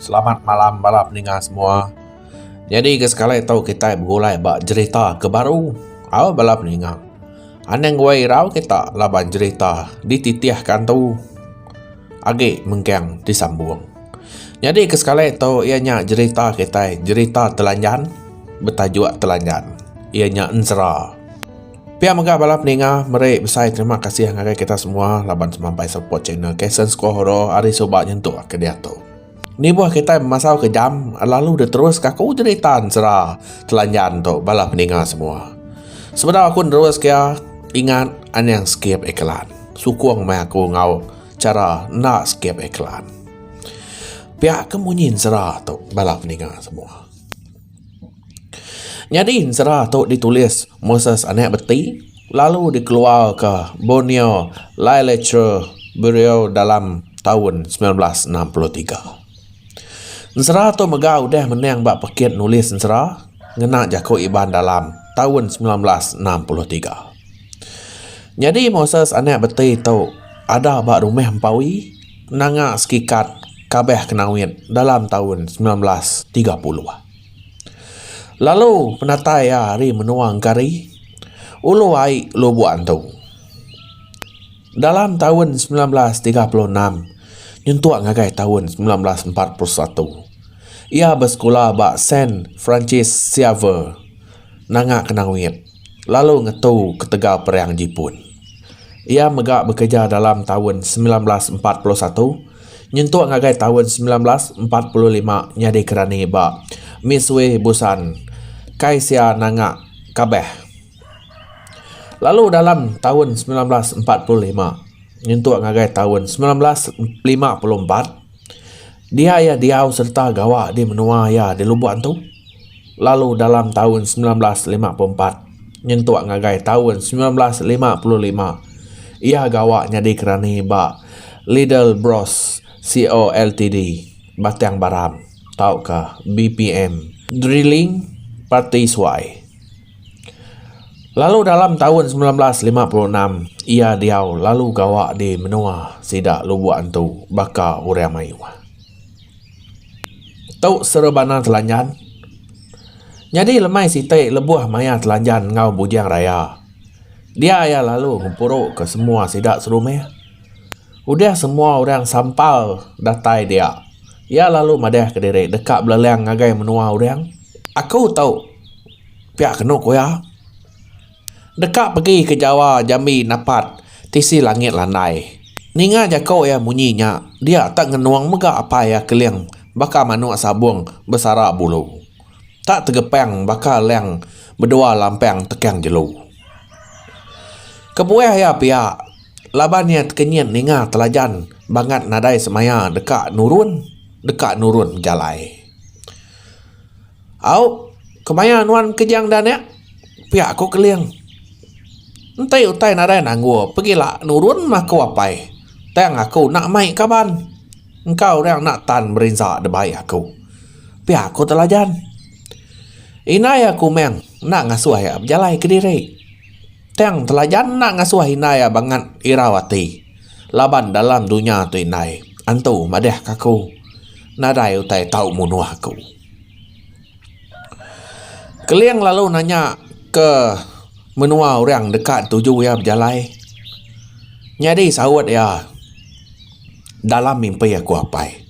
Selamat malam bala peninga semua. Nyadi ke sekali tu kita begulai ba cerita ke baru. Au bala peninga. Anang wei rau kita laban cerita dititihkan tu. agi mengkang disambung. Nyadi ke sekali tu iya nya jerita kitai, jerita telanjan betajuk telanjan. Iya nya enzra. Pia mega bala peninga meri besai terima kasih ngagai kita semua laban semampai support channel Kasen Sekulah Oro ari suba nyentuk ke diatu. Nibuh kitai memasau ke jam lalu diterus ka aku nyerita ensera telanjan tu bala peninga semua. Sebedau aku nerus ke iya ingat anang skip iklan. Sukung meh aku enggau chara enda skip iklan. Pia ke munyi ensera tu bala peninga semua. Nyadi ensera tu ditulis Moses anak beti lalu dikeluarka Borneo Liliture Bureau dalam taun semilan belas enam puluh tiga. Ensera tu mega udah menang ba Pekit Nulis Ensera ngena jaku Iban dalam taun semilan belas enam puluh tiga. Nyadi Moses anak beti tu ada ba rumah empa wi. nanga sekikat kabeh kenawit dalam taun semilan belas tiga puluh. Lalu penatai iya ari menua Engkari, ulu ai Lubok antu. Dalam taun semilan belas tiga puluh enam nyentuk ngagai taun semilan belas empat puluh satu, iya besekula ba Saint Francis Xavier nanga kenawit. lalu ngetu ketegal Perang Jipun. Iya mega bekereja dalam taun semilan belas empat puluh satu nyentuk ngagai taun semilan belas empat puluh lima nyadi kerani ba Misui Busan kai sia nanga Kabeh. Lalu dalam taun semilan belas empat puluh lima nyentuk ngagai taun semilan belas lima puluh empat, Dia iya diau sereta gawa di menua iya di Lubok Antu lalu dalam taun semilan belas lima puluh empat nyentuk ngagai taun semilan belas lima puluh lima iya gawa nyadi kerani ba Lidl Bros Co Ltd, Batang Baram tauka BPM Drilling Party Suai. Lalu dalam taun semilan belas lima puluh enam iya diau lalu gawa di menua sida Lubok Antu baka orang mayuh. Tu serebana telanjan. Nyadi lemai siti lebuh maya telanjan enggau bujang raya dia iya lalu ngempuru ke semua sida serumih. Udah semua orang sampal datai dia iya lalu madah ke diri deka belelang ngagai menua orang. Aku tu. Pia kenu ku iya. Deka pegi ke Jawa jambi napat tisi langit landai. Ninga jako iya munyi nya, dia tak ngenung mega apai iya Keling baka manuk sabung besara bulu. Tak tegepang baka lang bedua lampang tekang jelu. Kebuah iya pia laban iya tekenyit ninga telajan bangat nadai semaya deka nurun, deka nurun bejalai. Au, kemaya nuan kejang da nek? Pia ku Keling. Enti utai nadai nanggul pegila nurun meh aku apai. Tang aku enda mai kaban. Engka orang enda tan berinsa debai aku. Pia ku Telajan. Indai iya ku Meng enda ngasuh iya bejalai kediri. Tang Telajan enda ngasuh indai iya bangat irau ati laban dalam dunya tu indai antu madahka aku nadai utai tau munuh aku. Keling lalu nanya ke menua orang deka tuju iya bejalai nyadi saut iya dalam mimpi aku apai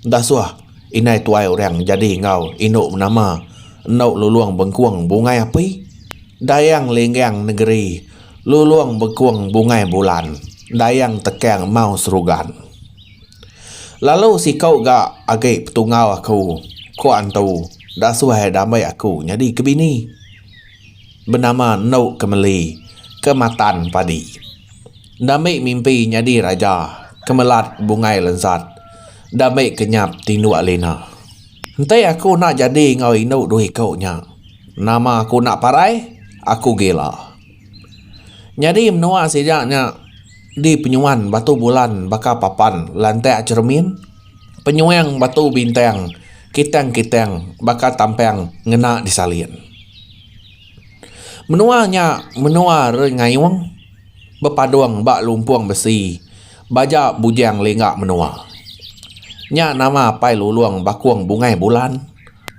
enda suah indai tuai orang nyadi enggau indu menama endu lulong bengkong bungai api dayang linggang negeri lulong bengkong bungai bulan dayang tekang mau serugan. Lalu siku ga agi petungau aku ku antu da suah ida meh aku nyadi ke bini benama enu ke meli ke matan padi enda meh mimpi nyadi raja ke melat bungai lensat enda meh ke nyap tinduk lina enti aku enda jadi enggau inu dua iku nya nama aku enda parai aku gila. Nyadi menua sida nya di penyuan batu bulan baka papan lantak cheremin, penyuang batu bintang kitang-kitang baka tampang ngena disalin. Menua nya menua renyayong bepadong ba lumpong besi. Baja bujang lingga menua. Nya nama Apai Lulong Bakong Bungai Bulan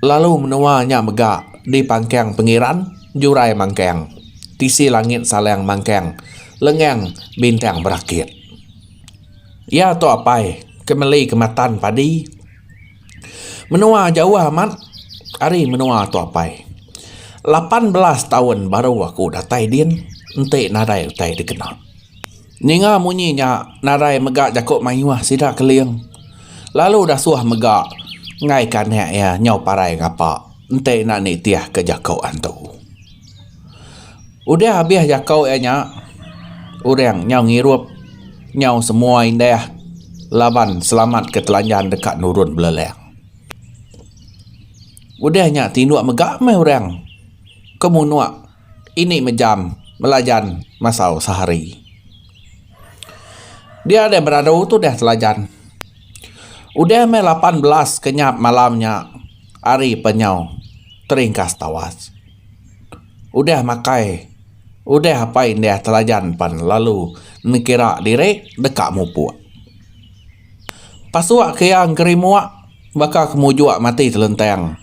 lalu menua nya mega di Pangkang Pengiran, Jurai Mangkang, Tisi Langit Salang Mangkang, Lengang Bintang Berakit. Iya tu apai ke meli kematan padi. Menua jauh amat ari menua tu apai. Lapan belas taun baru aku datai din enti nadai utai dikena. Ninga munyi nya, Narai mega jaku mayuh sida Keling lalu dasuh mega enggaika anak iya nyau parai ngapa enti enda nitihka jaku antu. Udah habis jaku iya nya, orang nyau ngirup nyau semua indah laban selamat ke telanjan deka nurun beleleng. Udah nya tinduk mega meh orang ke munuk. ini mejam belajan masau sehari. Dia deh beradu tu deh telajan. Udah meh lapan belas ke nyap malam nya ari pa nyau teringkas tawas. Udah makai udah apai indah telajan pan lalu nekira diri deka mupuk. Pasuk ke iya ngerimuk baka ke mujok mati telentang.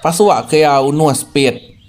Pasuk ke iya unus pit.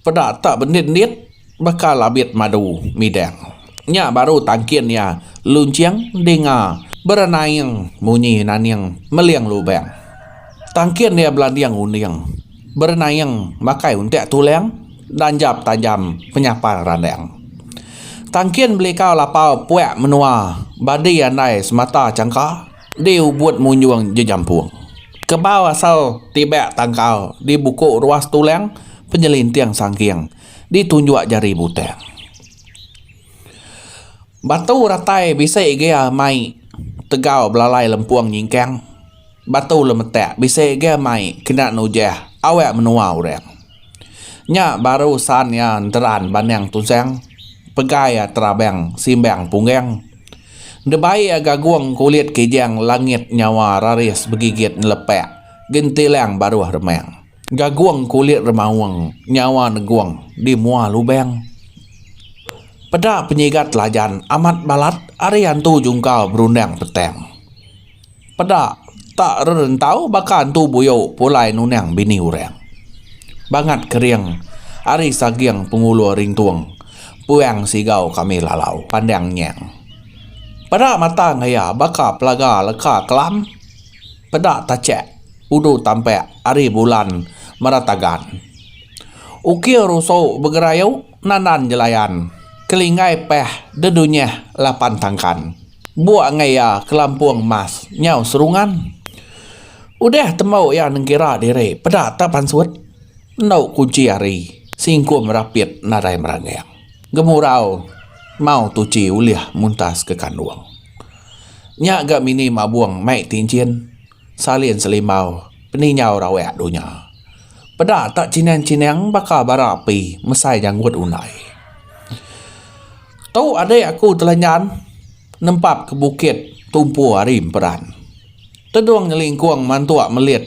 Peda tak bendit-endit baka labit madu midang. Nya baru tangkin iya lunching dinga berenaing munyi naning meling lubang. Tangkin iya belanding unding berenaing makai untak tulang danjap tajam penyapar randang. Tangkin belikau lapau puak menua badi andai semata changka. Di ubut munjung jejampung. Kebau asal tibak tangkal di buku ruas tulang penyelinting sangking di tunjuk jari butang. Batu ratai bisi gia mai tegau belalai lempung nyingkang. Batu lemetak bisi gia mai kena nujah awak menua orang. Nya baru san iya enteran bandang tusang, pegai iya terabang simbang punggang. Ndebai iya gagong kulit kijang langit nyawa raris begigit nelepak gentilang baruh remang. Gagong kulit remaung nyawa negong di mua lubang. Peda penyigat Lajan amat balat ari antu jungkal berundang petang. Peda tak rerentau baka antu buyu pulai nunang bini urang. Bangat kering ari saging pengulur rintung puang sigau kami lalau pandang nyang. Peda matang iya baka pelaga leka kelam. Peda tachak udu tampak ari bulan meratagan. Ukir usu begerayu nanan jelayan kelinggai pah dedunyah lapan tangkan. Bua enggau iya kelampung mas nyau serungan. Udah tembu iya nengkira diri peda ta pansut endo kunchi ari singkum rapit nadai meranggang gemurau mau tuchi ulih muntas ke kandung. Nya ga mini mabung mai ti enchin Salin selimbau peninjau raweak dunya. Peda tak chinang-chinang baka bara api mesai janggut undai. Tu adik aku telanjan nempap ke bukit tumpu ari emperan. Tedung nyelingkung mantuk melit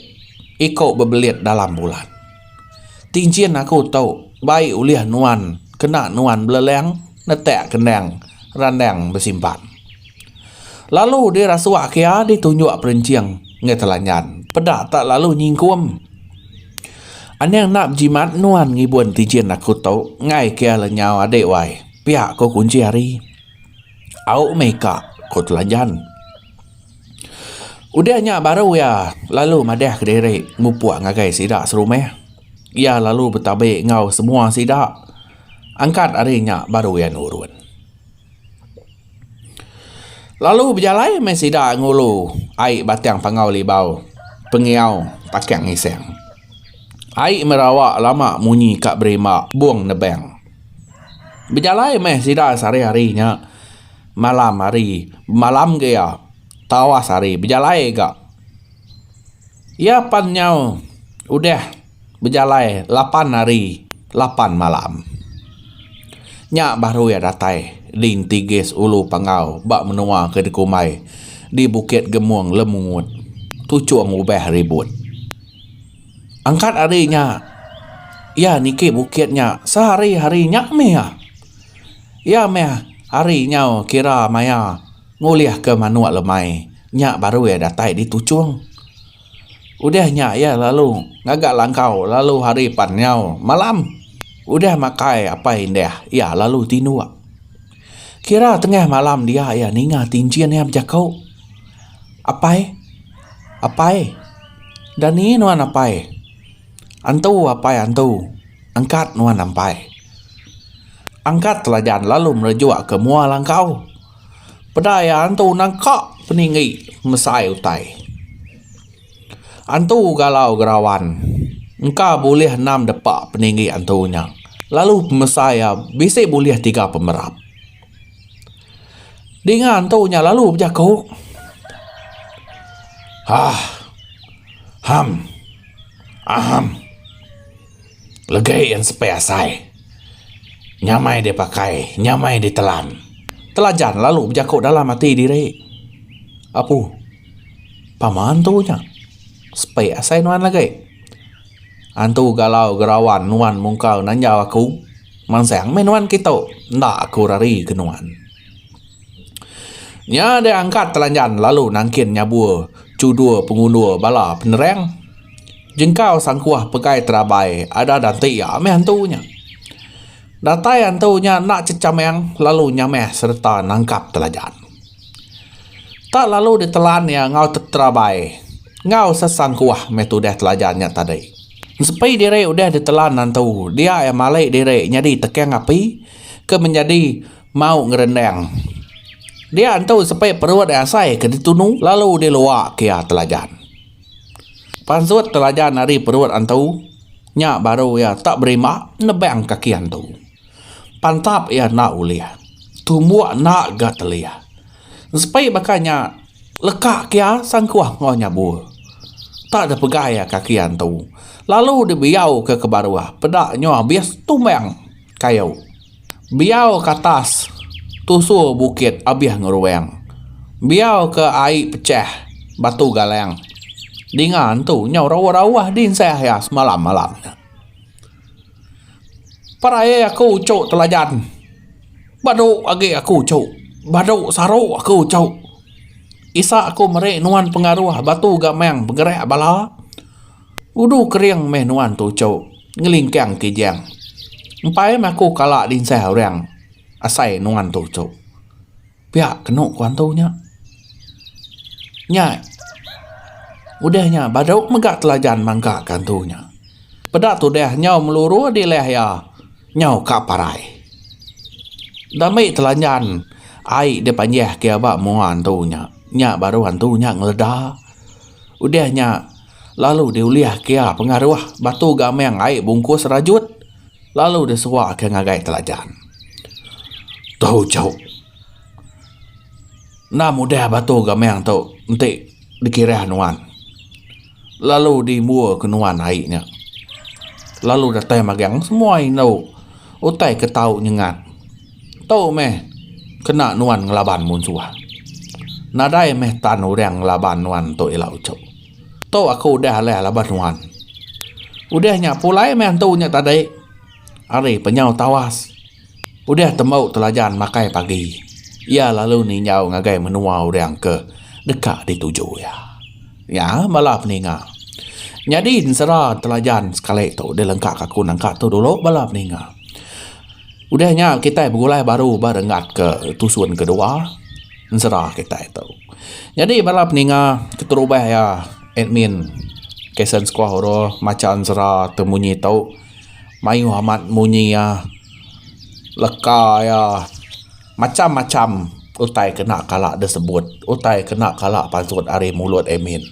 iku bebelit dalam bulan. Tinchin aku tu bai ulih nuan kena nuan beleleng netak kendang randang besimpan. Lalu deh rasuak ke iya deh tunjuk perenching ngai telanyan peda tak lalu nyingkum. Anang enda bejimat nuan ngibun tijin aku tu ngai ke iya lenyau adik wai pia ko kunchi hari. Au meh ka ko telanyan. Udah nya baru iya lalu madah ke diri mupuk ngagai sida serumah. Iya lalu betabi enggau semua sida angkat hari nya baru iya nurun. Lalu bejalai meh sida ngulu ai batang pangau libau pengiau Pakang Isang. Ai merawa lama munyi ka berimba bung nebang. Bejalai meh sida sehari-hari nya malam hari bemalam ga iya tawas hari bejalai ga. Iya pan nyau udah. Bejalai lapan hari lapan malam. Nya baru iya datai di enti gas ulu Panggau ba menua ke dikumbai di Bukit Gemung Lemungut, Tuchong Ubah Ribut. Angkat hari nya iya niki bukit nya sehari-hari nya mih. Iya mih hari nyau kira maya ngulihka manuk lemai nya baru iya datai di Tuchong. Udah nya iya lalu ngaga langkau lalu hari pan nyau malam. Udah makai apai indah iya lalu tinduk. Kira tengah malam dia iya ninga ti enchin iya bejaku, Apai, apai, enda ni nuan apai. Antu apai antu, angkat nuan ampai. Angkat telajan lalu merejuk ke mua langkau. Peda iya antu nang ka peninggi mesai utai. Antu galau gerawan engka bulih enam depa peninggi antu nya lalu pemesai iya bisi bulih tiga pemerap. Dinga antu nya lalu bejaku Hah. Ham. Ahem. Legi yang sepai asai. Nyamai deh pakai, nyamai deh telan. Telajan lalu bejaku dalam ati diri. Apu. Paman tu nya. Sepai asai nuan legi. Antu galau gerawan nuan mungkal nanjau aku. Mansang meh nuan kitu. Enda aku rari ke nuan. Nya deh angkat telanjan lalu nangkin nyabur chudur pengundur bala penerang jengkau sangkuah pegai terabai adah dati iya meh antu nya. Datai antu nya enda chechamang lalu nyamah sereta nangkap telanjan. Tak lalu ditelan iya enggau teterabai enggau sesangkuah meh tudah telanjan nya tadi. Ensepi diri udah ditelan antu dia iya malik diri nyadi tekang api ke menyadi Mau ngerendang. Dia entu sepi perut ai asai ke ditunu lalu dilua ke iya Telajan. Pansut Telajan ari perut antu nya baru iya tak berima nebang kaki antu. Pantap iya enda ulih. Tumbuk enda ga telih. Sepi baka nya leka ke iya sangkuh enggau nyabur. Tak ada pegai iya kaki antu lalu dibiau ke ke baruh peda nyoh abis tumbang kayu. Biau ke atas tusur bukit abih ngeruang. Biau ke ai pechah batu galang. Dinga entu nyau rauh-rauh dinsah iya semalam-malam nya. Perai aku uchu telajan. Badu agi aku uchu. Badu saru aku uchu. Isa aku meri nuan pengaruh batu gamang begerak bala. Udu kering meh nuan tuchu ngelingkang kijang. Empai meh aku kala dinsah orang asai nuan tuchu. Pia kenu ku antu nya. Nya udah nya baru mega telajan mangga ke antu nya. Peda tudah nyau meluru dilah iya nyau ka parai. Enda mei telanjan ai dipanjah ke ba mua antu nya. Nya baru antu nya ngeleda. Udah nya. lalu diulih ke iya pengaruh batu gamang ai bungkus rajut lalu disewa ke ngagai telajan. Tau jauh. Enda mudah batu gamang tu enti dikirah nuan. Lalu dimur ke nuan ai nya. Lalu datai magang semua indu utai ke tau nyengat. Tu meh kena nuan ngelaban munsuh. Nadai meh tan orang ngelaban nuan tu ila uchu. Tu aku udah alih laban nuan. Udah nya pulai meh antu nya tadi ari penyau tawas udah tembu telajan makai pagi iya lalu ninjau ngagai menua orang ke deka dituju iya. Nya bala peninga. Nyadi ensera telajan sekali tu dilengkaka aku nangka tu dulu bala peninga. Udah nya kitai begulai baru ba renggat ke tusun kedua ensera kitai tu. Nyadi bala peninga keterubah iya admin Kasen Skuah Oro macha ensera tu munyi tu mayuh amat munyi iya leka iya macham-macham utai kena kala disebut utai kena kala pansut ari mulut admin.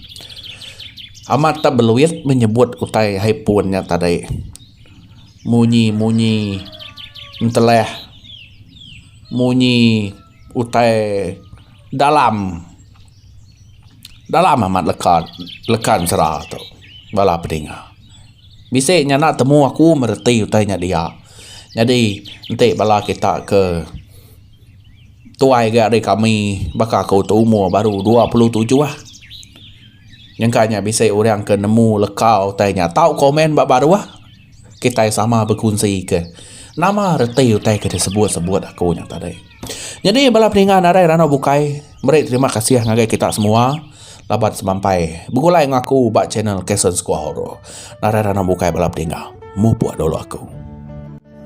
Amat tak beluit menyebut utai hai pun nya tadi. Munyi munyi entelah. Munyi utai dalam. Dalam amat leka leka ensera tu bala pedinga. Bisi nya enda temu aku meh reti utai nya dia. Nyadi enti bala kita ke tuai ga ari kami baka aku tu umur baru dua puluh tujuh ah. Nyangka nya bisi orang ke nemu leka utai nya tau komen ba baruh. Kitai sama bekunsika nama reti utai ke disebut-sebut aku nya tadi. Nyadi bala peninga nadai randau bukai, meri terima kasih ngagai kita semua laban semampai begulai enggau aku ba channel Kason Squaw Horror. Nadai randau bukai bala peninga. Mupuk dulu aku.